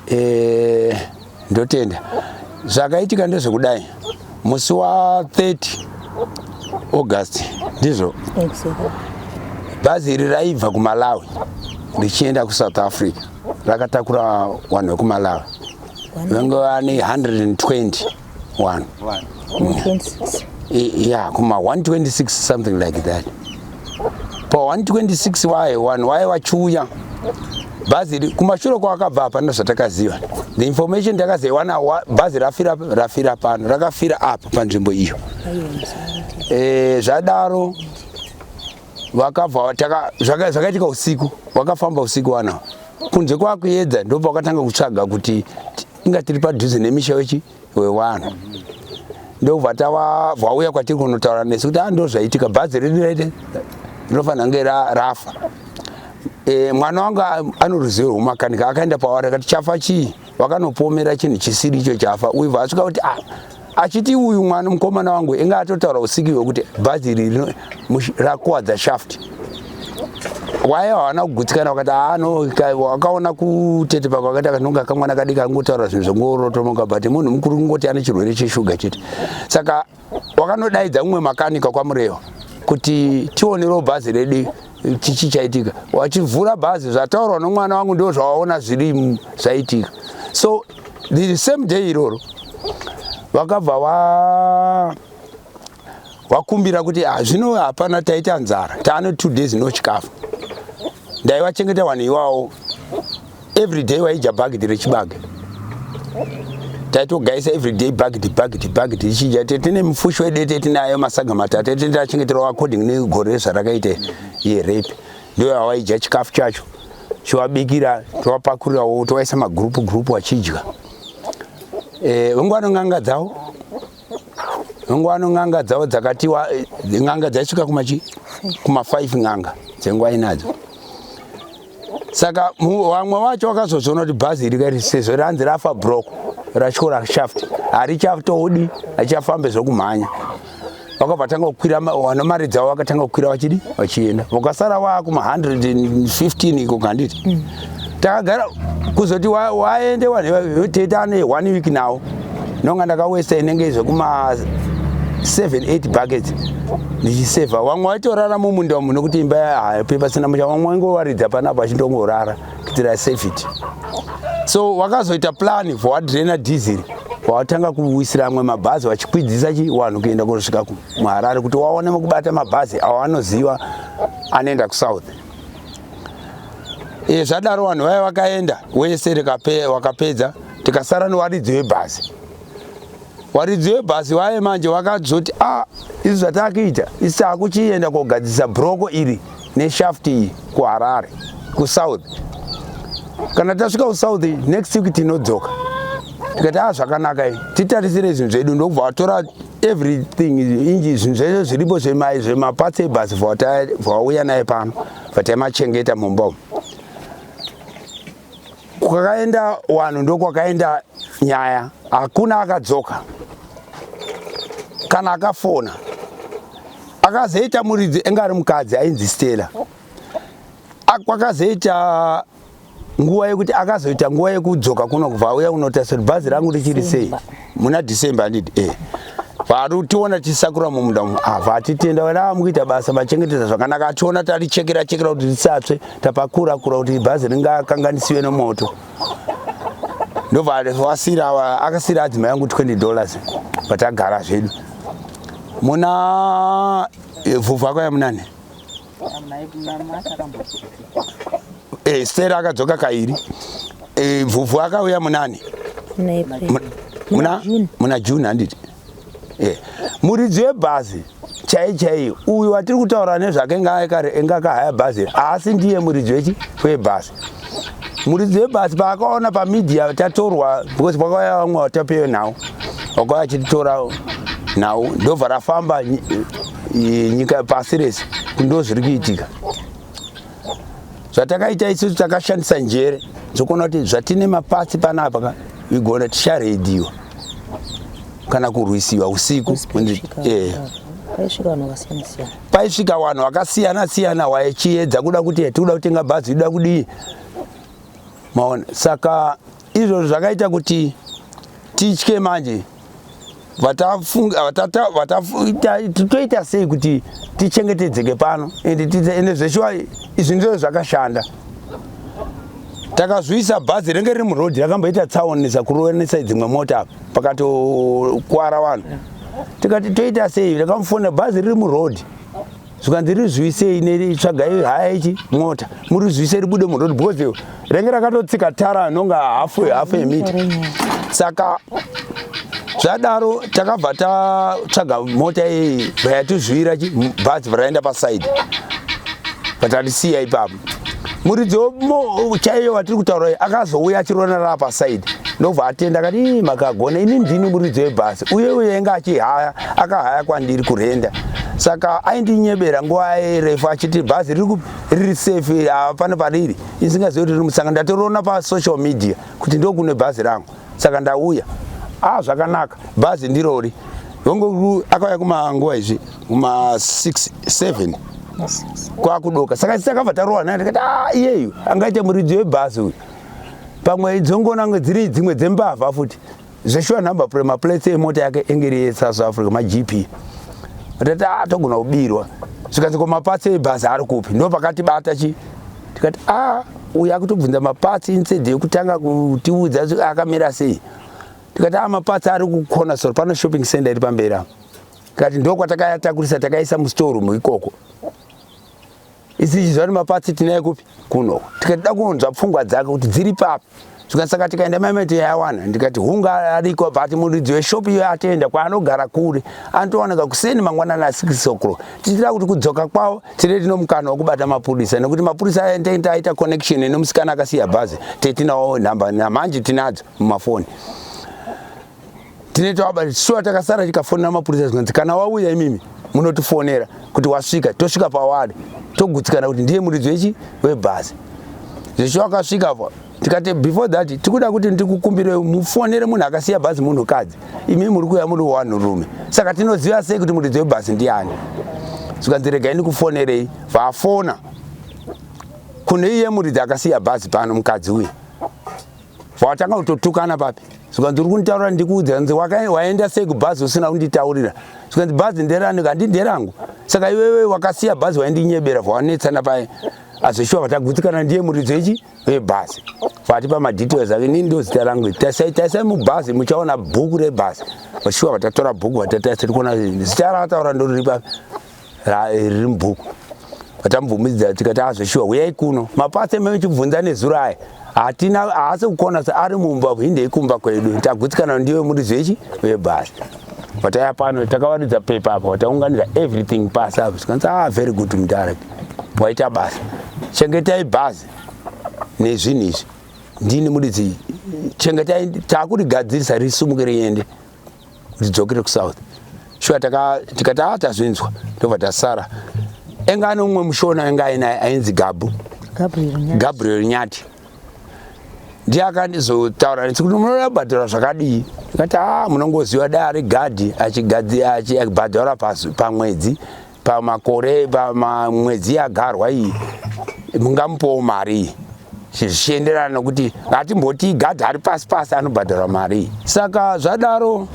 Eh, ndotenda zvakaitika ndezvekudai musi wa 30 august ndizvo bhazi iri raibva kumalawi richienda kusouth africa rakatakura vanhu vekumalawi vangova ne 120 one yeah kuma 126 something like that pa 126 waye one waye wachuya bhazi iri kumashure kwakabva hapana zvatakaziva the information takazaiwana bhazi rafira rafira pano rakafira apa panzvimbo iyo e, zvadaro vakabva zvakaitika usiku vakafamba usiku vanawo kunze kwakuyedza ndobva vakatanga kutsvaga kuti inga tiri padhuze nemisha wechi wevanhu ndobva tava vauya kwatiri kunotaura nesu kuti ando ah, zvaitika bhazi riri raite rinofanira kunge rafa e, mwana wangu ano ruzivo rwomakanika akaenda pavari akati chafa chii vakanopomera chinhu chisiri icho chafa uibva asvika kuti a ah, achiti uyu mwana mukomana wangu inga atotaura usiki hwekuti bhazi iri rakuwadza shaft waye hawana kugutsikana wakati ano ah, wakaona kutete pako wakati akanonga kamwana kadiki angotaura zvinhu zvongorotomoka but munhu mukuru kungoti ane chirwere cheshuga chete saka wakanodaidza mumwe makanika kwamurewa kuti tionerewo bhazi redu chichi chaitika wachivhura bhazi zvataurwa nomwana wangu ndo zvawaona zviri zvaitika so the same day iroro vakabva wa wakumbira kuti ah, zvino hapana taita nzara taane two days no chikafu ndaivachengeta vanhu iwawo everyday waidya bhagidhi rechibage taitogaisa everyday bhagidhi bhagidhi bhagidhi ichidya tete tine mufushi wedete tinayo masaga matatu tete tachengeterwa according negore zvarakaita yerape ndiyo awaidya chikafu chacho chiwabikira towapakurirawo towaisa magroup group wachidya eh, vengu vanonganga dzawo vengu vanonganga dzawo dzakatiwa n'anga dzaisvika kumachi kuma 5 n'anga dzenguva inadzo saka vamwe vacho vakazozoona kuti bhazi iri kairi sezvo ranzi rafa brok rachikora shaft harichatoodi hachafambe zvokumhanya vakabva tanga kukwira wana mari dzavo vakatanga kukwira vachidi vachienda vakasara wakuma 115 iko kanditi mm. takagara kuzoti waende wanhete ane one week nawo ndonga ndakawesta inenge zvekuma 78 buckets ndichiseva wamwe waitorara mumunda umu nokuti imba yahape pasina musha wamwe waingowaridza panapo achindongorara kuitira safety so wakazoita plan for wadrena diesel watanga kuwisira amwe mabhazi vachikwidzisa chi wanhu kuenda kunosvika muharare kuti waone mukubata mabhazi awo anoziva anoenda kusouth e, zvadaro vanhu vaya vakaenda wese wakapedza waka tikasara newaridzi webhazi waridzi webhazi waye manje wakazoti a ah, izvi zvatakuita isi takuchienda kogadzisa broko iri neshaft iyi kuharare kusouth kana tasvika kusouth next week tinodzoka tikati a ah, zvakanaka i titarisire zvinhu zvedu ndokubva watora everything inji zvinhu zvese zviripo zvemai zvemapatsi ebhazi vawauya naye pano vataimachengeta mumba umu Kwakaenda wanhu ndokwakaenda nyaya, hakuna akadzoka kana akafona. Akazoita muridzi enge ari mukadzi ainzi Stella. Kwakazoita nguva yekuti akazoita nguva yekudzoka kuno kubva auya unotasira bhazi rangu richiri sei. muna december andidi e eh. vari tiona tisakura mumunda umu ava ah, atitenda vana vamukuita basa vachengetedza zvakanaka ationa tarichekera chekera kuti tisatsve tapakura kura kuti bhazi ringakanganisiwe nemoto ndobva wasira akasira adzima yangu 20 dollars vatagara zvedu muna eh, vhuvhu ako yamunani Eh, Stella akadzoka kairi. Eh, Vhuvhu akauya munani? Muna muna June handiti? Eh. Muridzi webhazi chai chai uyu watiri kutaura nezvake enga kahaya bhazi haasi ndiye muridzi wechi webhazi muridzi webhazi paakaona pamedia tatorwa because pakauya vamwe vatapewe nhau wakauya achititora nhau ndobva rafamba nyika pasi rese ndo zviri kuitika zvatakaita isusu takashandisa njere dzokuona kuti zvatine mapatsi panapa ka igona ticharediwa kana kurwisiwa usiku eh. paisvika vanhu vakasiyana siyana waichiedza kuda kuti eh, tikuda kutenga bhazi ida kudii maona saka izvozvo zvakaita kuti titye manje toita sei kuti tichengetedzeke pano ende zveshuwa izvi ndizvo zvakashanda takazviisa bhazi renge riri muroad rakamboita tsaoni sakuroenesai dzimwe mota apa pakatokwara vanhu tikati toita sei takamufona bhazi riri muroad zvikanzi rizwisei netsvagai haya ichi mota murizwisei ribude murodi because renge rakatotsika tara anonga hafu hafu yemita saka zvadaro takabva tatsvaga mota iyi vayatizvira bhazi varaenda pasaidi vatarisiya ipapo muridzo chaiyo watiri kutaura akazouya achirona rava pasaidi ndobva atenda kati makagona ini ndini muridzo yebhasi uye uye ainge achihaya akahaya kwandiri kurenda saka aindinyebera nguva refu achiti bhazi riri kupi riri safe hapana pariri isingazivi kuti riri musanga ndatoriona pasocial media kuti ndokune bhazi rangu saka ndauya a ah, zvakanaka bhazi ndirori hongu akauya kumanguva izvi kuma 6 7 kwakudoka saka tisakabva tarowa naye tikati ah, iyeyu angaite muridzi webhasi uyu pamwe idzongona nge dziri dzimwe dzembavha futi zveshuwa number plate maplates emota yake enge iri yesouth africa magp tati a ah, togona kubirwa zvikanzi ko mapatsi ebhazi ari kupi ndo pakatibata chi tikati a ah, uyu akutobvunza mapatsi instead yekutanga kutiudza akamira sei tikati a ah, mapatsi ari kukona sor pano shopping center iri pamberi apo tikati ndokwatakaatakurisa takaisa mustorum ikoko isichizvati mapatsi tinaye kupi kuno tikati da kunzwa pfungwa dzake kuti dziri papi zvikasaka tikaenda maimai tiyawana ndikati hunga ariko but muridzi weshopi iyo atoenda kwaanogara kure anotowanaka kuseni mangwanani asikisokro tichitira kuti kudzoka kwavo tine tino mukana wekubata mapurisa nekuti mapurisa aendeta aita connection inomusikana akasiya bhazi tetinawo nhamba namanje tinadzo mumafoni tine tawaba shuwa takasara tikafonera mapurisa zvikanzi kana wauya imimi munotifonera kuti wasvika tosvika pawari togutsikana kuti ndiye muridzi wechi webhazi zvisho akasvika pa tikati before that tikuda kuti ndikukumbire mufonere munhu akasiya bhazi munhukadzi imi muri kuya muri wanhurume saka tinoziva sei kuti muridzi webhazi ndiani zvikanzi regai ndikufonerei vafona kune iye muridzi akasiya bhazi pano mukadzi uyu Vakatanga kutotukana papi zvikanzi uri kunditaurira ndikuudza kanzi waenda sei kubhazi usina kunditaurira zvikanzi bhazi nderani kandi nderangu saka iwewe wakasiya bhazi waindinyebera vawanetsana paye azoshuwa vatagutsikana ndiye muridzo ichi webhazi vati pamadetails ake nini ndozita rangu iri taisai taisai mubhazi muchaona bhuku rebhazi vashuwa vatatora bhuku vatataisa tiri kuona zita raataura ndoriri papi riri mubhuku vatamubvumidza tikati azveshuwa ah, huyai kuno mapatse mechibvunza nezuro aya hatina haasi kukona se ari mumba hindei kumba kwedu tagutsikana ndiwe muri zvechi vebhasi vataya pano takavaridza pepa apa vataunganira everything pasi apa zvikanzi ah very good mudhara waita basa chengetai bhazi nezvinhu izvi ndini muridzi chengetai takurigadzirisa risumuke riende ndidzokere kusouth shuwa tikati a ah, tazvinzwa ndobva tasara enga ane umwe mushona enga ainaye ainzi gabu gabriel nyati ndiye akandizotaura neti kuti munoda kubhadhara zvakadii ikati a ah, munongoziva dai ari gadhi achibhadhara pamwedzi pamakore pamwedzi yagarwa iyi mungamupowo mari iyi zvichienderana nokuti ngatimboti gadhi ari pasi pasi anobhadharwa mari saka zvadaro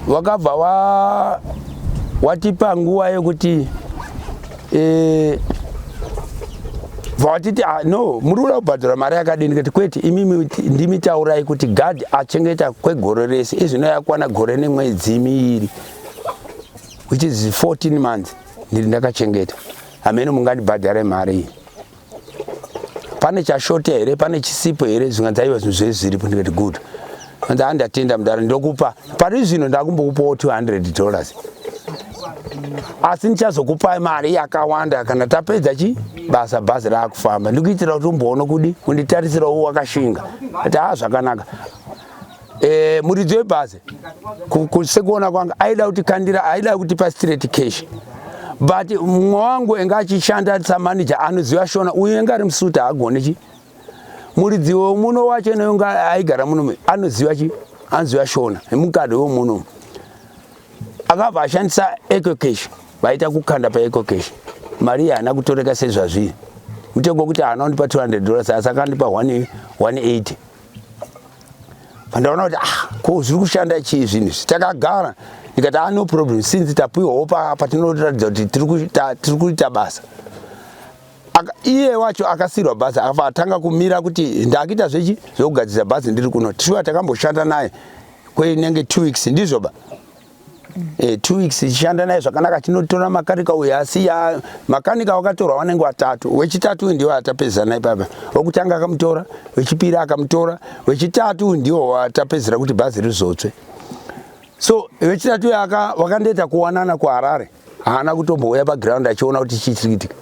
wakabva wa watipa nguva yekuti e, vatiti ah, no muri kuda kubhadhara mari yakadini kuti kwete imimi ndimi taurai kuti gadhi achengeta kwegore rese izvino yakwana gore nemwedzi miiri which is 14 months ndiri ndakachengeta hameno mungandibhadhare mari iyi pane chashota here pane chisipo here zvinga dzaiva zvinhu zvee zviripo ndikati good anzi andatenda mudara ndokupa pari zvino ndakumbokupawo 200 dollars asi ndichazokupai mari yakawanda kana tapedza chi basa bhazi raakufamba ndikuitira kuti umboona kudi unditarisirawo wakashinga ati haa zvakanaka Eh, muridzi webhazi sekuona kwanga aida kuti kandira aida kuti pa straight cash but mumwe wangu enga achishanda samanager anoziva shona uye enga ari musuta haagone chi muridzi wemuno wacho nonga aigara muno anoziva chi anoziva shona emukadhi wemuno akabva ashandisa eco cash vaita kukanda pa eco cash mari haana kutoreka sezvazvii mutengo wekuti haana kundipa 200 dollars asi akandipa 180 pandaona kuti ah ko zviri kushanda chii zvinhu izvi takagara ndikati ah no problem since tapiwawo patinoratidza kuti tiri kuita basa iye wacho akasirwa bhazi afa atanga kumira kuti ndakuita zvechi zvekugadzirisa bhazi ndiri kuno tishuwa takamboshanda naye kweinenge two weeks ndizvo ba eh, two weeks tichishanda naye zvakanaka tinotora makanika uyu asi ya makanika wakatorwa vanenge vatatu wechitatu uyu ndiwo atapedzera naye papa wokutanga akamutora wechipiri akamutora wechitatu uyu ndiwo watapedzera kuti bhazi rizotsve so vechitatu yaka wakandoita kuwanana kuharare haana kutombouya paground achiona kuti chii chiri kuitika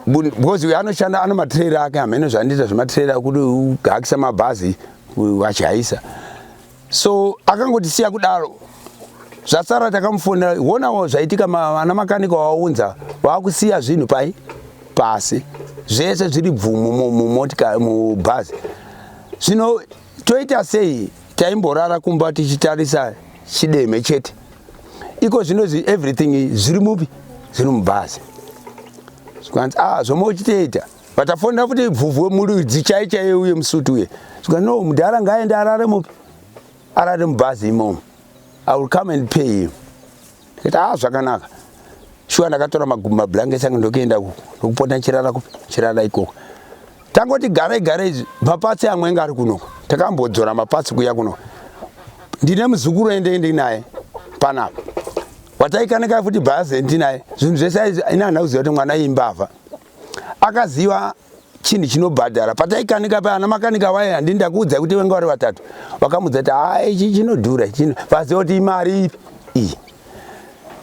because uyo anoshanda ano matrera ake hameno zvandiita zvematrera kuti uhakisa mabhazi achihayisa so akangotisiya kudaro zvasara takamufonera honawo zvaitika vana makanika waunza vakusiya zvinhu pai pasi zvese zviri bvumu mumotika mubhazi zvino toita sei taimborara kumba tichitarisa chideme chete iko zvinozi everything zviri mupi zviri mubhazi zvikanzi a ah, zvomwe uchitoita but afonera futi ibvuvhu wemuridzi chai chaiye uye musuti uye sika no mudhara ngaaende arare mupi arare mubhazi imomo i will come and pay him ndikati haa ah, zvakanaka shuwa ndakatora magumbi mablankets ange ndokuenda ndokupota chirara kupi chirara ikoko tangoti garai garai izvi mapatsi amwe anga ari kunoko takambodzora mapatsi kuya kunoko ndine muzukuru ende ndinaye panapa wataikanekai futi bhazi ndinaye zvinhu zvese ina handakuziva kuti mwana imbavha akaziva chinhu chinobhadhara pataikanika paana makanika vaye handii ndakuudzai kuti vanga vari vatatu vakamudza kuti haa ichi chinodhura chino vaziva kuti imari ipi iyi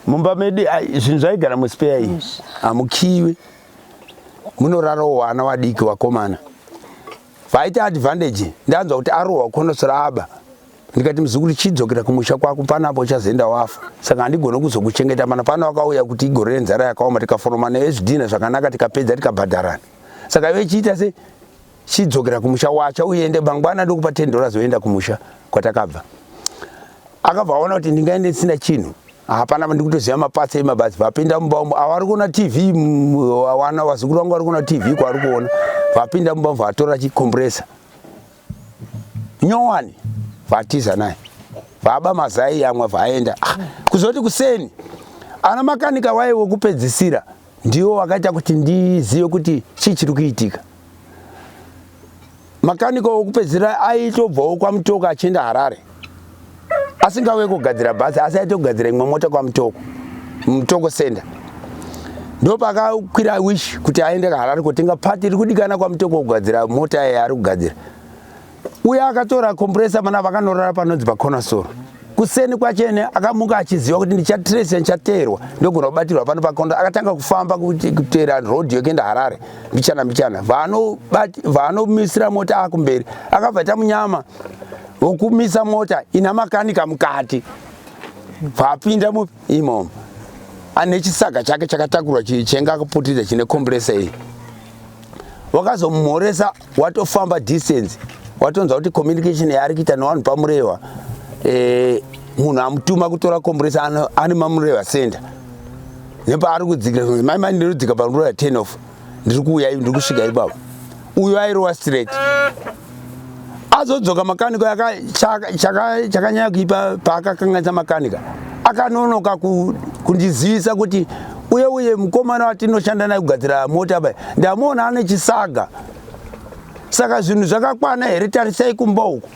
mumba medu zvinhu zvaigara muspeya iyi hamukiwi munorarawo wana wadiki wakomana vaita advantage ndanzwa kuti arohwa konosora aba ndikati muzukuru chidzokera kumusha kwako pano apo uchazoenda wafa saka handigone kuzokuchengeta mana pano wakauya kuti igore renzara yakaoma tikaforomana ezvidhina zvakanaka tikapedza tikabhadharana saka ive chiita se chidzokera kumusha wacha uende mangwana ndokupa ten dollars oenda kumusha kwatakabva akabva aona kuti ndingaende ndisina chinhu hapana ndikutoziva mapatsa emabhazi vapinda mumba umo avari kuona tv wana vazukuru vangu vari kuona tv kwavari kuona vapinda mumba umo vatora chicompressor nyowani vatiza naye baba mazai yamwa vaenda ah, kuzoti kuseni ana makanika waye wekupedzisira ndiwo wakaita kuti ndizive kuti chii chiri kuitika makanika wekupedzisira aitobvawo kwamutoka achienda harare asingauye kugadzira bhazi asi aite kugadzira imwe mota kwamutoko mutoko senda ndopakakwira wish kuti aende kaharari kotenga pati iri kudikana kwamutoko kugadzira mota yaye ari kugadzira uye akatora kompresa mana vakanorara panonzi paconasoro kuseni kwachene akamuka achiziva kuti ndichatresa ndichateerwa ndogona kubatirwa pano pakondo akatanga kufamba kuteera road yokuenda harare mbichana mbichana vaanomisira mota akumberi akabva ita munyama wokumisa mota ina makanika mukati paapinda imomo ane chisaga chake chakatakurwa chenga akaputidza chine komburesa iyi wakazomumhoresa watofamba distance watonzwa kuti communication yaari kuita nevanhu pamurehwa eh, munhu amutuma kutora komburesa ane mamurehwa center nepaari kudzikira mai mai ndinodzika pamurehwa ten off ndiri kuuya ivi ndiri kusvika ipapo uyo airova straight azodzoka makanika chakanyanya kuipa paakakanganisa makanika akanonoka kundizivisa kuti uye uye mukomana watinoshanda naye kugadzira mota bai ndamuona ane chisaga saka zvinhu zvakakwana here tarisai kumba uku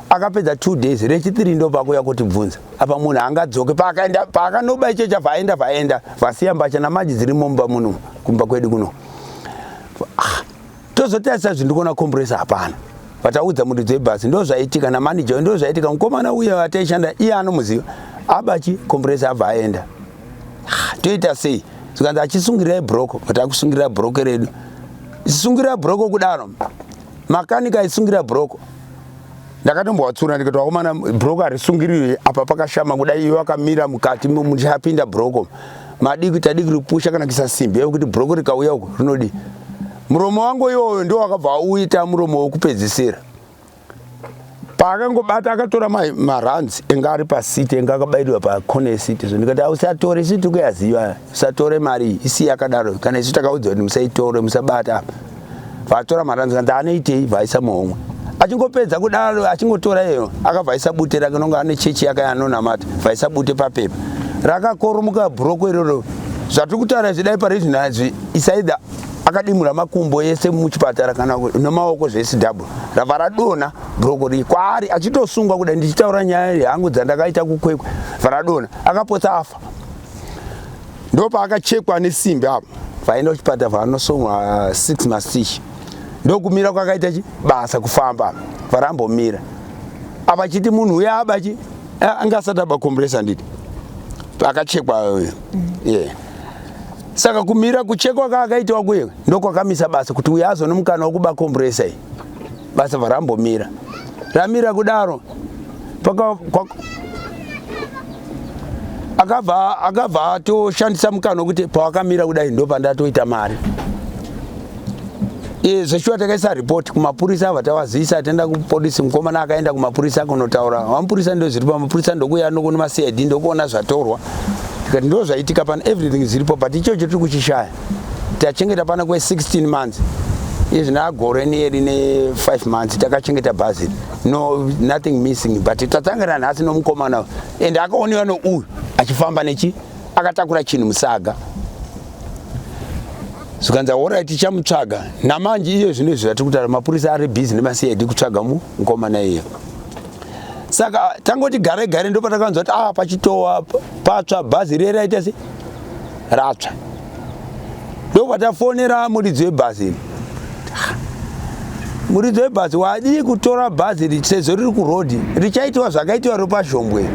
akapedza two days rechitiri ndopakuya kutibvunza apa munhu angadzoke paakaenda paakanoba icho chabva aenda vaenda vasiya mbatya namaji dziri mumba muno kumba kwedu kuno ah, tozotarisa zvinhu ndikuona komburesa hapana vataudza mundi dzebhasi ndo zvaitika namanager ndo zvaitika mukomana uye ataishanda iye anomuziva abachi komburesa abva aenda ah, toita sei zvikanzi achisungirirai broko vatakusungirira broko redu sungirira broko kudaro makanika aisungirira broko ndakatombowatsura ndikati vakomana broko harisungiriwe apa pakashama kuda iwe wakamira mukati muchapinda broko madiki tadiki ripusha kana kisa simbi yekuti broko rikauya uko rinodii muromo wangu iwoyo ndiwo wakabva uita muromo wokupedzisira paakangobata akatora maruns enge ari pasiti enge akabairirwa pacone esiti so ndikati ausi atore siti kuyaziva musatore mari iyi isi yakadaro kana isu takaudzwa kuti musaitore musabata apa vatora mari anzi kanzi anoitei vaisa muhomwe achingopedza kudaro achingotora iyo akabva aisa bute rake nonga ane chechi yake anonamata vaisa bute papepa rakakoromoka bhuroko iroro zvatiri kutaura izvi dai pari zvinhu izvi isaida akadimura makumbo ese muchipatara kana nemaoko zvese double rava radona bhuroko rii kwaari achitosungwa kudai ndichitaura nyaya yangu dzandakaita kukwekwe varadona akapotsa afa ndopaakachekwa nesimbi apo vaenda kuchipatara vanosonwa uh, six mastich ndokumira kwakaita chi basa kufamba varambomira apa chiti munhu uya aba chi anga asati aba kombresa nditi akachekwa uyo mm. yeah saka kumira kuchekwa kaakaitawa kuye ndokwakamisa basa kuti uya azonomukana wekuba kombresa iyi basa bva rambomira ramira kudaro akabva akabva atoshandisa mukana wekuti pawakamira kudai ndopandatoita mari e, zveshuwa takaisa report kumapurisa ava tawazivisa atenda kupolisi mukomana akaenda kumapurisa kunotaura vamapurisa ndo zviripo mapurisa ndokuya nokuni macid ndokuona zvatorwa tikati ndo zvaitika pano everything zviripo but ichocho tiri kuchishaya tachengeta pana kwe 16 months izvi nagore neri ne 5 months takachengeta bhazi no nothing missing but tatangana nhasi nomukomana and akaonewa nouyu achifamba nechi akatakura chinhu musaga zvikanzi aora tichamutsvaga namanje iyo zvino izvi zvatiri kutaura mapurisa ari busy nemacid kutsvaga mukomana iyo saka tangoti gare gare ndopatakanzwa kuti ah pachitowa patsva bhazi riye raita sei ratsva ndobva tafonera muridzi webhazi iri muridzi webhazi wadii kutora bhazi iri sezvo riri kurodhi richaitiwa zvakaitiwa ropazhombwe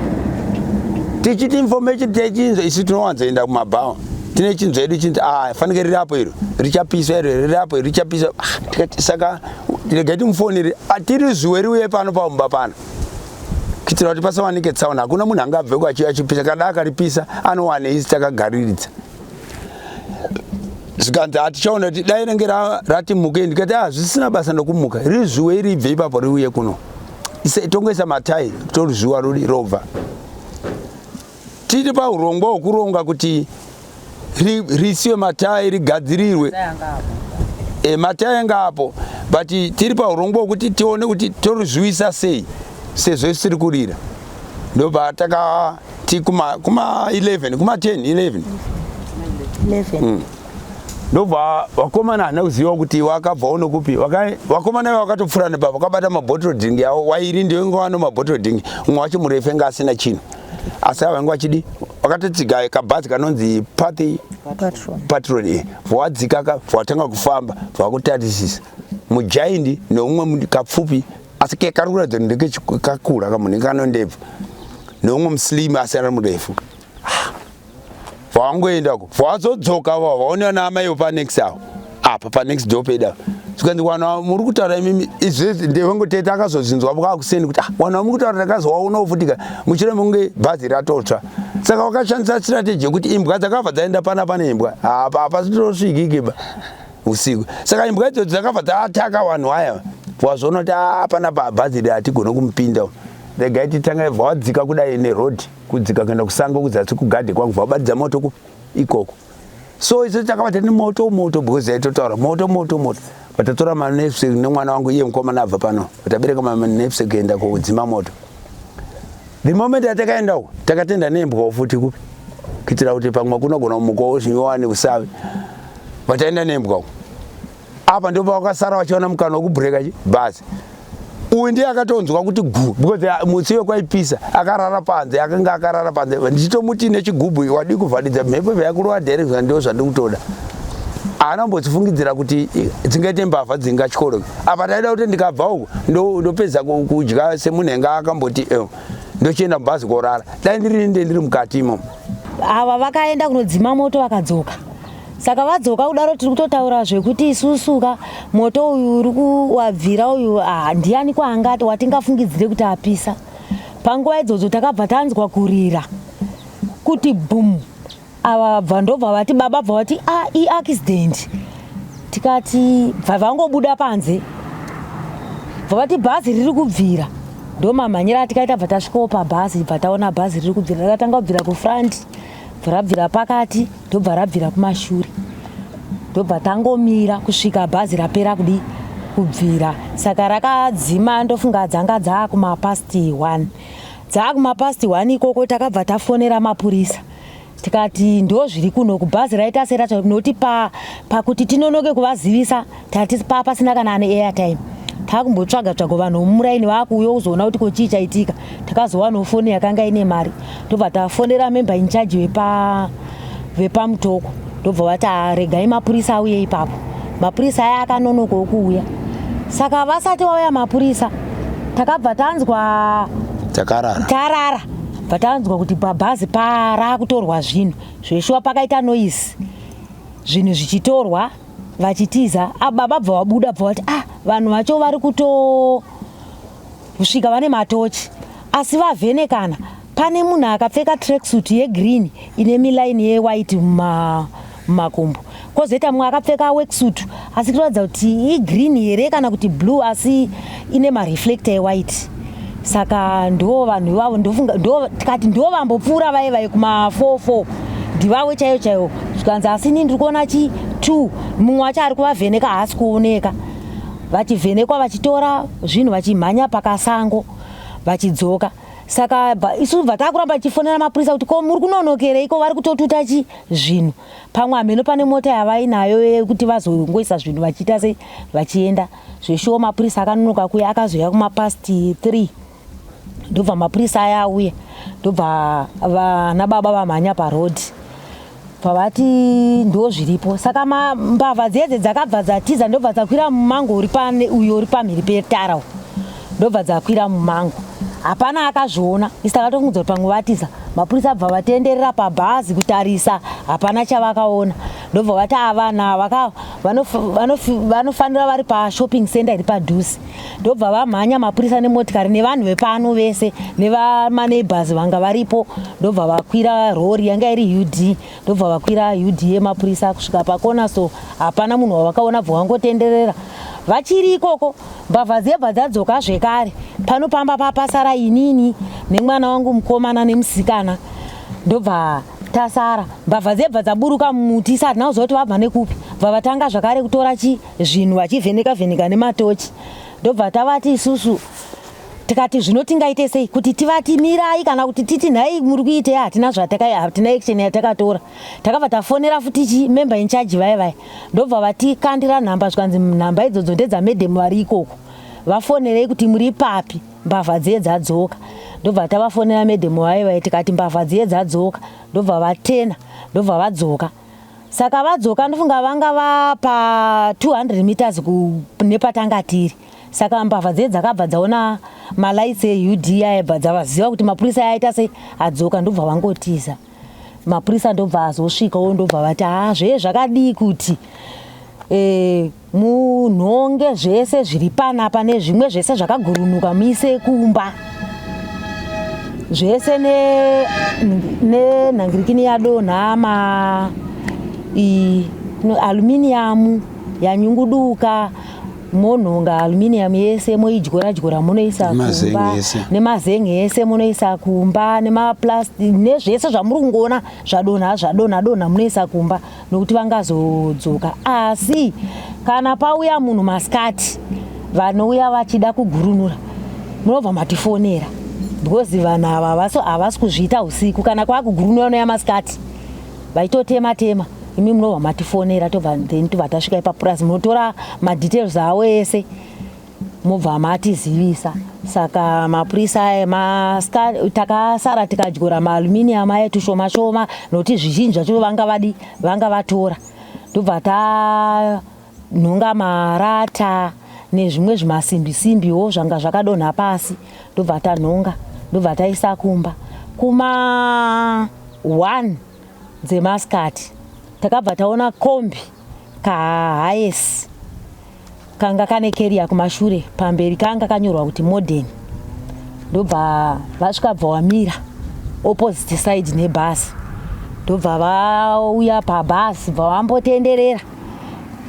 tichiti information techinzwa isu tinowanzoenda kumabhawa tine chinzwa yedu chinzi ah, fanike riri apo iro richapiswa iro riri apo iro richapiswa ah, saka regai timufonere ah, tiri zuwe riuye pano pamumba pano kuitira kuti pasawanike tsaona hakuna munhu anga abveko achiuya achipisa kada akaripisa anowane isi takagariridza zvikanzi hatichaona kuti dai renge ratimuke ndikati hazvisina ah, basa nokumuka riri zuwe iri ibve ipapo riuye kuno tongoisa matai tori zuwa rodi robva Tiri pahurongwa hwekuronga kuti risiwe matayi rigadzirirwe e, matayi anga apo but tiri pahurongwa hwekuti tione kuti torizviwisa sei sezvo isiri kurira ndobva takati kuma 11 kuma 10 11 mm. ndobva vakomana hana kuziva kuti wakabva uno kupi vakomana iva vakatopfura nepapa vakabata mabottle drink yavo wairi ndiyo inga wano mabottle drink umwe wacho murefe nga asina chinhu asi ava vanga vachidi vakatotsiga kabhazi kanonzi pathy patron eh, vawadzika ka vawatanga kufamba vakutarisisa mujaindi neumwe kapfupi asi kekari kuratidza kuti ndekekakura kamunhu kanondebva neumwe muslim asi ari murefu vangoenda ko vazodzoka vavo vaonea naamai vo panext avo apa panext do peda zvikanzi wana muri kutaura imimi izvezvi ndevangoteta akazozvinzwa vakakuseni kuti ah, wana muri kutaura ndakazowaona ufutika muchire munge bhazi ratotsva saka wakashandisa strategy yekuti imbwa dzakabva dzaenda pana pane imbwa apa apa zvitorosvigikiba usiku saka imbwa idzodzo dzakabva dzaataka vanhu aya wazvoona kuti apana ah, bhazi ri hatigone kumupinda regai titanga ibva wadzika kudai nerodhi kudzika kuenda kusango kuzasi kugadhe kwangu vabatidza moto ku ikoko so isu takabata nemoto moto because aitotaura moto moto moto vatatora manepsi nemwana wangu iye mukomana abva pano vatabereka manepsi kuenda kudzima moto the moment atakaendawo takatenda nembwawo futi kupi kuitira kuti pamwe kunogona kumukowo zvinyowani kusavi vataenda nembwawo apa ndipo pavakasara vachiona mukana wekubreaka chi bhazi uyu ndiye akatonzwa kuti gu because uh, mutsi wekwaipisa akarara panze akange akarara panze ndichitomuti nechigubhu wadii kuvharidza mhepo yakurova direction ndo zvandikutoda haana kumbotifungidzira kuti dzingaite mbavha dzingatyoroke apa taida kuti ndikabva uku ndopedza kudya semunhenge akamboti eh, ndochienda mubhazi korara dai ndiri nde ndiri mukati imomo ava vakaenda kunodzima moto vakadzoka saka vadzoka kudaro tiri kutotaura zvekuti isusuka moto uyu uri kuwabvira uyu ah, ndiani kwaangati watingafungidzire kuti apisa panguva idzodzo takabva tanzwa kurira kuti bum ava bva ndobva vati baba bva vati ah, iaccident tikati bva vangobuda panze bva vati bhazi riri kubvira ndomamhanyira atikaita bva tasvikawo pabhazi bva taona bhazi riri kubvira rakatanga kubvira kufront rabvira pakati ndobva rabvira kumashure ndobva tangomira kusvika bhazi rapera kudii kubvira saka rakadzima ndofunga dzanga dzaakumapasti one dzaakumapasti one ikoko takabva tafonera mapurisa tikati ndozviri kuno kubhazi raita seracha nokuti pakuti tinonoke kuvazivisa tatisi paa pasina kana ane airtime taakumbotsvaga tsvaga vanhu vomuraini vaakuuya kuzoona kuti kochii chaitika takazowanawo foni yakanga ine mari ndobva tafonera member incharge vepa vepamutoko ndobva vati ah, regai mapurisa auye ipapo mapurisa aya akanonokawo kuuya saka vasati vauya mapurisa takabva tanzwa takarara tarara bva tanzwa kuti pabhazi paraakutorwa zvinhu zveshuwa pakaita noise zvinhu zvichitorwa vachitiza ah, baba bva wabuda bva wati ah vanhu vacho vari kutosvika vane matochi asi vavhenekana pane munhu akapfeka tracksuit yegreen ine miline yewhite mumakumbo kozoita mumwe akapfeka worksuit asi kutoratidza kuti igreen here kana kuti blue asi ine mareflector ewhite saka ndo vanhu ivavo ndofunga tikati ndo vambopfuura vaye vaye kuma four four ndivavo chaiyo chaiyo zvikanzi asi ni ndiri kuona chi two mumwe wacho ari kuvavheneka haasi kuoneka vachivhenekwa vachitora zvinhu vachimhanya pakasango vachidzoka saka isu bva takuramba tichifonera mapurisa kuti ko muri kunonokerei ko vari kutotuta chi zvinhu pamwe hameno pane mota yavainayo yekuti vazongoisa zvinhu vachiita sei vachienda zveshuwo mapurisa akanonoka kuya akazoya kumapast three ndobva mapurisa aya auya ndobva vana baba vamhanya parodhi pavati ndo zviripo saka mbavha dzedze dzakabva dzatiza ndobva dzakwira mumango uri pane uyo uri pamhiri petara u ndobva dzakwira mumango hapana akazviona isa katongudza kuti pamwe vatiza mapurisa abva vatenderera pabhazi kutarisa hapana chavakaona ndobva vati ava vanhu ava ka vanofanira vari pashopping center iri padhuze ndobva vamhanya mapurisa nemotikari nevanhu vepano vese nevamaneighbors vanga varipo ndobva vakwira rori yanga iri ud ndobva vakwira ud yemapurisa kusvika pakona so hapana munhu wavakaona bva wangotenderera vachiri ikoko mbavha dzebva dzadzoka zvekare pano pamba papasara inini nemwana wangu mukomana nemusikana ndobva tasara mbavha dzebva dzaburuka mumuti isati nawo zvakuti vabva nekupi bva vatanga zvakare kutora chi zvinhu vachivheneka vheneka nematochi ndobva tavati isusu tikati zvino tingaite sei kuti tivati mirai kana kuti titi nhai muri kuitei hatina zvatakahatina action yatakatora takabva tafonera futi chi member in charge vaya vaya ndobva vatikandira nhamba zvikanzi nhamba idzodzo ndedzamadam vari ikoko vafonerei kuti muri papi mbavha dziye dzadzoka ndobva tavafonera medhemu vaye vaye tikati mbavha dziye dzadzoka ndobva vatena ndobva vadzoka saka vadzoka ndofunga vanga vapa 200 meters nepatanga tiri saka mbavha dziye dzakabva dzaona malights eud ayabva dzavaziva kuti mapurisa ayaita sei adzoka ndobva vangotiza mapurisa ndobva azosvikawo ndobva vati haa zvee zvakadii kuti eh, Munhonge zvese zviri panapa nezvimwe zvese zvakagurunuka muise kumba zvese nenhangirikini ne, yadonha ma no, aluminiyamu yanyunguduka monhonga aluminium yese moidyora dyora munoisa kumba nemazenge yese munoisa kumba nemaplastic nezvese zvamuri kungoona zvadonha zvadonha donha munoisa kumba nokuti vangazodzoka asi kana pauya munhu masikati vanouya vachida kugurunura munobva matifonera because vanhu ava havasi kuzviita usiku kana kwaakugurunura unoya masikati vaitotema tema imi munobva matifonera tobva then tobva tasvika ipapurazi munotora madetails avo ese mobva matizivisa saka mapurisa aya maska takasara tikadyora maaluminium aya tushoma shoma nokuti zvizhinji zvacho vanga vadi vanga vatora ndobva tanhonga marata nezvimwe zvimasimbi simbiwo zvanga zvakadonha pasi ndobva tanhonga ndobva taisa kumba kuma one dzemaskati takabva taona kombi kahayesi kanga kane keriya kumashure pamberi kanga kanyorwa kuti modern ndobva vasvika bva wamira opposite side nebhasi ndobva vauya pabhasi bva vambotenderera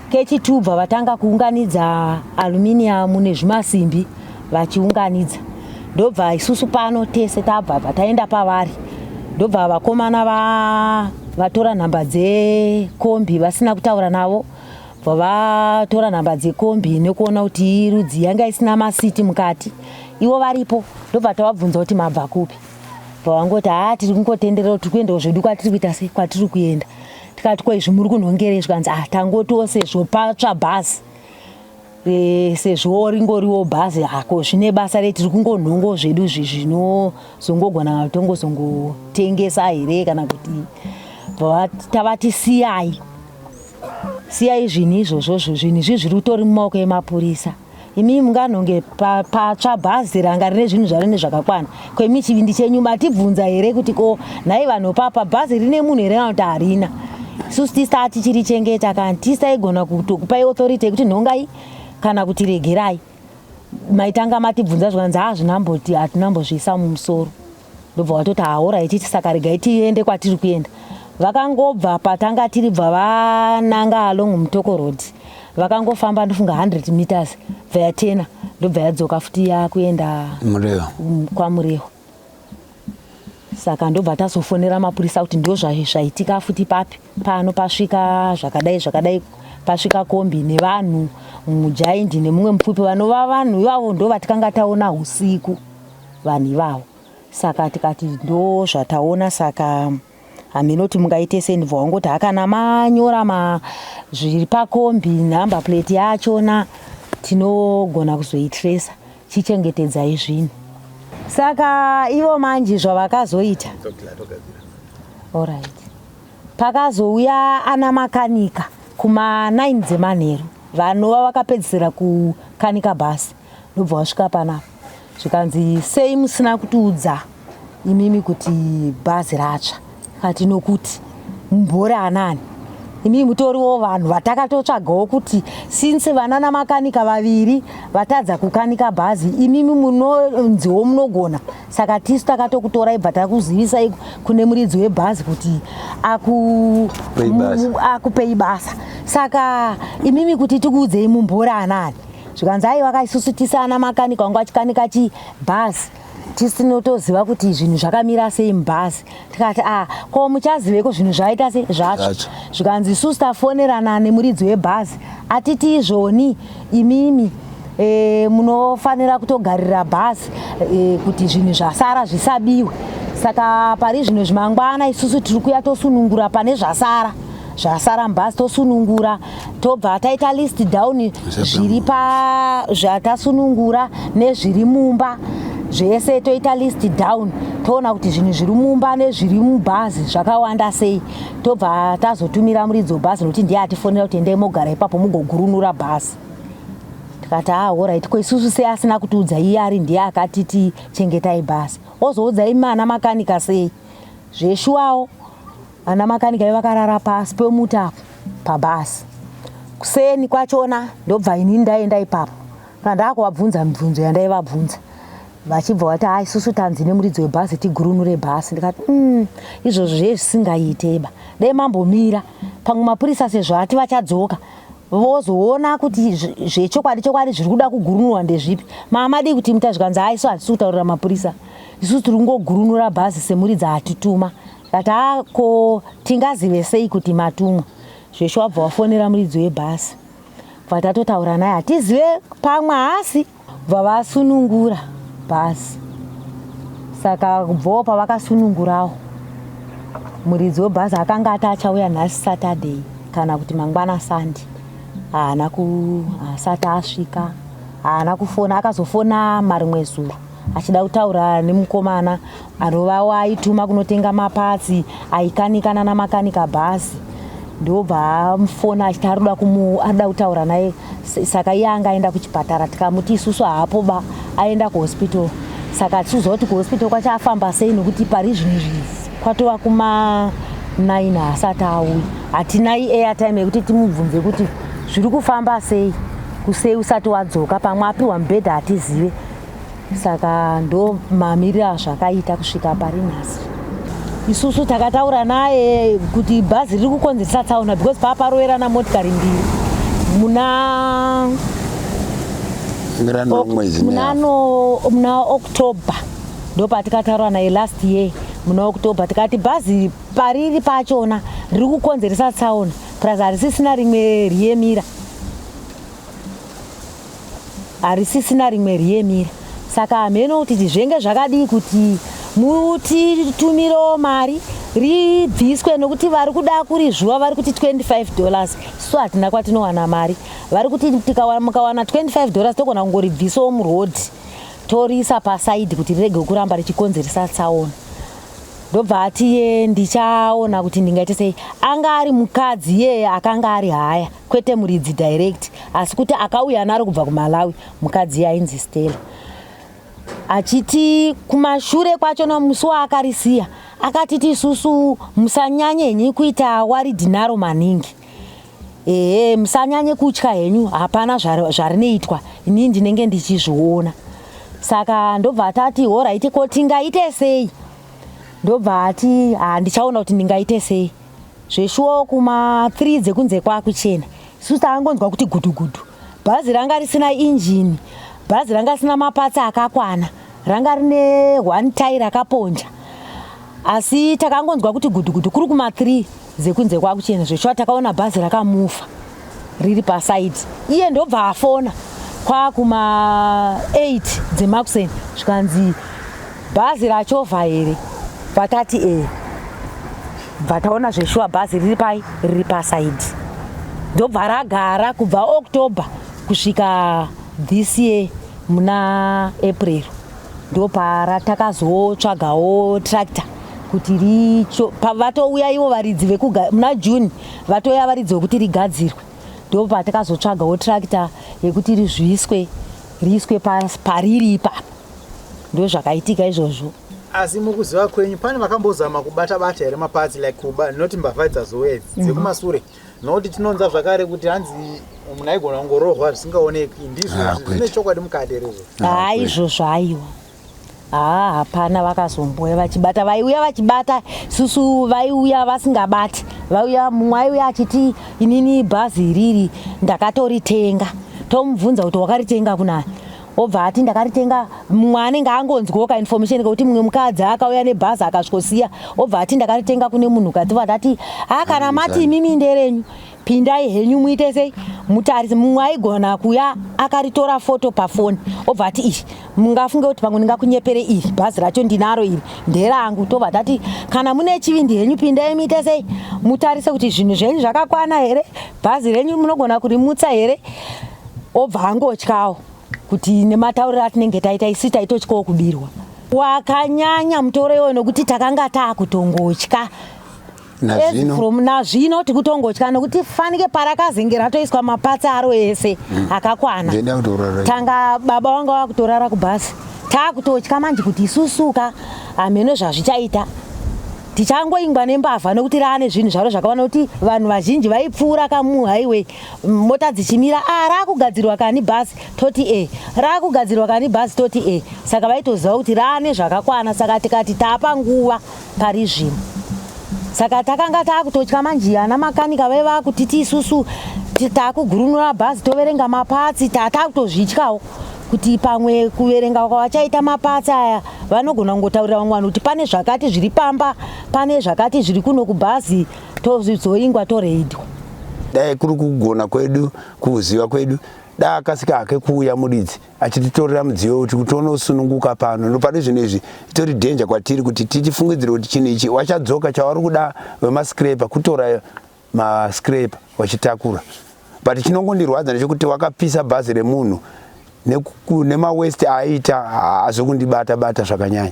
kechitu bva vatanga kuunganidza aluminium nezvimasimbi vachiunganidza ndobva isusu pano tese tabva bva taenda pavari ndobva vakomana vatora nhamba dzekombi vasina kutaura navo vatora nhamba dzekombi nekuona kuti iyi rudzi yanga isina masiti mukati ivo varipo ndobva tavabvunza kuti mabva kupi pavangoti haa tiri kungotenderera tiri kuendawo zvedu kwatiri kuita se kwatiri kuenda tikati ko izvi muri kunhongerei zvikanzi ah tangotiwo sezvo patsva bhazi e, sezvo ringoriwo bhazi hako ah, zvine basa re tiri kungonhongo zvedu zvi zvinozongogona tongozongotengesa here kana kuti tavatisiyayi Siyai zvinhu izvozvozvo, zvinhu izvi zviri utori mumaoko emapurisa. Imi munganhonge pa- patsva bhazi ranga rine zvinhu zvaro nezvakakwana. Ko imi chivindi chenyu matibvunza here kuti ko nhai vanhu papa bhazi rine munhu here kana kuti harina? Isusu tista tichiri chengeta kana tista igona kutokupai authority yekuti nhongai kana kuti regerai. Maitanga matibvunza zvikanzi hazvina mboti hatina mbozviisa mumusoro. ndobva watoti haoraiti saka regai tiende kwatiri kuenda vakangobva patanga tiri bva vananga along mutoko road vakangofamba ndofunga 100 meters bva yatena ndobva yadzoka futi yakuenda mm, kwamurehwa saka ndobva tazofonera mapurisa kuti ndo zvaitika futi papi pano pasvika zvakadai zvakadai pasvika kombi nevanhu mujaindi nemumwe mupfupi vanova vanhu ivavo ndo vatikanga taona usiku vanhu ivavo saka tikati ndo zvataona saka hameno kuti mungaite sei ndibva wangoti hakana manyora ma zviri pakombi number plate yachona tinogona kuzoitresa chichengetedzai zvinhu saka ivo manje zvavakazoita orit pakazouya ana makanika kuma 9 dzemanheru vanova vakapedzisira kukanika bhasi ndobva wasvika panapa zvikanzi sei musina kutiudza imimi kuti bhazi ratsva kati nokuti mumbori anani imimi mutoriwo vanhu vatakatotsvagawo kuti since vanana makanika vaviri vatadza kukanika bhazi imimi munonziwo munogona saka tisu takatokutorai bva takuzivisai kune muridzi webhazi kuti akupei basa saka imimi kuti tikuudzei mumbori anani zvikanzi aiwa isusu tisi ana makanika wangu achikanika chibhazi tisinotoziva kuti zvinhu zvakamira sei mubhazi tikati a ah, ko muchaziveko zvinhu zvaita sei zvatsva zvikanzi isusu tafonerana nemuridzi webhazi atiti izvoni imimi e, munofanira kutogarira bhazi e, kuti zvinhu zvasara zvisabiwe saka pari zvino zvimangwana isusu tiri kuya tosunungura pane zvasara zvasara mubhazi tosunungura tobva taita list down zviri pa zvatasunungura nezviri mumba zvese toita list down toona kuti zvinhu zviri mumba nezviri mubhazi zvakawanda sei tobva tazotumira muridzi webhazi nokuti ndiye atifonera kuti endai mogara ipapo mugogurunura bhazi tikati ahorit ah, ko isusu sei asina kutiudza iye ari ndiye akatiti chengetai bhazi ozoudzai mana makanika sei zveshuwawo Ana makanika ivo vakarara pasi pemuti apo pabhasi. Kuseni kwachona ndobva ini ndaenda ipapo kandakuvabvunza mibvunzo yandaivabvunza vachibva vati ha isusu tanzi nemuridzi webhazi tigurunure bhasi ndikati mm, izvozvo zve zvisingaiteba dai mambomira pamwe mapurisa sezvo ati vachadzoka vozoona kuti zvechokwadi chokwadi zviri kuda kugurunurwa ndezvipi maamadii kuti muta zvikanzi ha isu hatisi kutaurira mapurisa isusu tiri kungogurunura bhazi semuridzi atituma But haa ko tingazive sei kuti matumwa zvesho wabva wafonera muridzi webhasi bva tatotaura naye hatizive pamwe haasi bva vasunungura bhasi saka kubvawo pavakasunungurawo muridzi webhasi akanga ati achauya nhasi saturday kana kuti mangwana sandi haana asati asvika haana kufona akazofona marimwe zuro achida kutaura nemukomana anovawo aituma kunotenga mapatsi aikanika nana makanika bhasi ndobva amufona achiti arikuda kumu arikuda kutaura naye saka iye anga aenda kuchipatara tikamuti isusu haapo ba aenda kuhospital saka tichiuziva kuti kuhospital kwacho afamba sei nekuti pari zvinhu zvivi kwatova kuma nine haasati auyi hatinai airtime yekuti timubvunze kuti zviri kufamba sei kusei usati wadzoka pamwe apiwa mubhedha hatizive saka ndo mamiriro azvakaita kusvika pari nhasi isusu takataura naye kuti bhazi riri kukonzeresa tsaona because paa paroverana motikari mbiri muna muna october ndo patikataura naye last year muna october tikati bhazi pariri pachona riri kukonzeresa tsaona plus harisisina rimwe riyemira harisisina rimwe riyemira saka hameno kuti tizvenge zvakadii kuti mutitumirewo mari ribviswe nokuti vari kuda kurizvuva vari kuti 25 dollars so hatina kwatinowana mari vari kuti mukawana 25 dollars togona kungoribvisawo muroad toriisa pasaidi kuti rirege kuramba richikonzeresa tsaona ndobva atiye ndichaona kuti ndingaite sei anga ari mukadzi yeye akanga ari haya kwete muridzi direct asi kuti akauya naro kubva kumalawi mukadzi yainzi stella achiti kumashure kwacho nomusi waakarisiya akati tisusu musanyanye henyu kuita waridhi naro maningi ehe musanyanye kutya henyu hapana zvarinoitwa inii ndinenge ndichizviona saka ndobva atati horaiti ko tingaite sei ndobva ati handichaona kuti ndingaite sei zveshuwo kuma 3 dzekunze kwakuchena isusu takangonzwa kuti gudugudu bhazi ranga risina injini bhazi ranga risina mapatsi akakwana ranga rine one tai rakaponja asi takangonzwa kuti gudugudu kuri kuma 3 dzekunze kwakuchena zveshuwa takaona bhazi rakamufa riri paside iye ndobva afona kwakuma 8 dzemakuseni zvikanzi bhazi rachovha here vatati e eh. bva taona zveshuwa bhazi riri pai riri paside ndobva ragara kubva october kusvika this year muna april ndopara takazotsvagawo tractor kuti richo pavatouya ivo varidzi vekugara muna june Vatoya varidzi wekuti rigadzirwe ndipo patakazotsvagawo tractor yekuti rizviiswe riiswe pariri ipapa ndozvakaitika izvozvo asi mukuziva kwenyu pane vakambozama kubata bata here maparts like kuba not mbavha dzazouya idzi mhm. dzekumasure nokuti tinonza zvakare kuti hanzi munhu aigona kungorohwa zvisingaoneki ndizvo ah, zvine chokwadi mukati here izvo ah, ah, izvozvo aiwa haa hapana vakazomboya vachibata vaiuya vachibata susu vaiuya vasingabati vaiuya mumwe aiuya achiti inini bhazi iriri ndakatoritenga tomubvunza kuti wakaritenga kunani obva ati ndakaritenga mumwe anenge angonzwoka information kekuti mumwe mukadzi akauya nebhazi akasvikosiya obva ati ndakaritenga kune munhu kati vadati ha kana mati imimi nderenyu pindai henyu muite sei mutarisi mumwe aigona kuya akaritora foto pafoni obva ati iri mungafunge kuti pamwe ndingakunyepere iri bhazi racho ndinaro iri nderangu tobva tati kana mune chivindi henyu pindai muite sei mutarise kuti zvinhu zvenyu zvakakwana here bhazi renyu munogona kurimutsa here obva angotyawo kuti nematauriro atinenge taita isi taitotyawo kubirwa wakanyanya mutoro iwoyo nokuti takanga taakutongotya Nazvino. from nazvino tikutongotya nokuti fanike parakazenge ratoiswa mapatsi aro ese mm. akakwana tanga baba wanga wakutorara kubhasi taakutotya manje kuti isusuka hameno zvazvichaita tichangoingwa nembavha nokuti raane zvinhu zvaro zvakawana kuti vanhu vazhinji vaipfuura kamuhighway mota dzichimira a ah, raakugadzirwa kani bhasi toti e eh. raakugadzirwa kani bhasi toti e eh. saka vaitoziva kuti raane zvakakwana saka tikati tapa nguva pari zvino saka takanga taakutotya manje ana makanika vaiva vakutiti isusu taakugurunura bhazi toverenga mapatsi tatakutozvityawo kuti pamwe kuverenga kwavachaita mapatsi aya vanogona kungotaurira vamwe vanhu kuti pane zvakati zviri pamba pane zvakati zviri kuno kubhazi tozoingwa toreidwa dai kuri kugona kwedu kuziva kwedu dai akasika hake kuuya muridzi achititorera mudziyo wekuti kuti unosununguka pano nopane zvinhu izvi itori dhenja kwatiri kuti tichifungidzira kuti chinhu ichi wachadzoka chawari kuda vemascraper kutora mascraper wachitakura but chinongondirwadza ndechekuti wakapisa bhazi remunhu nemawest aita hazvi kundibata bata zvakanyanya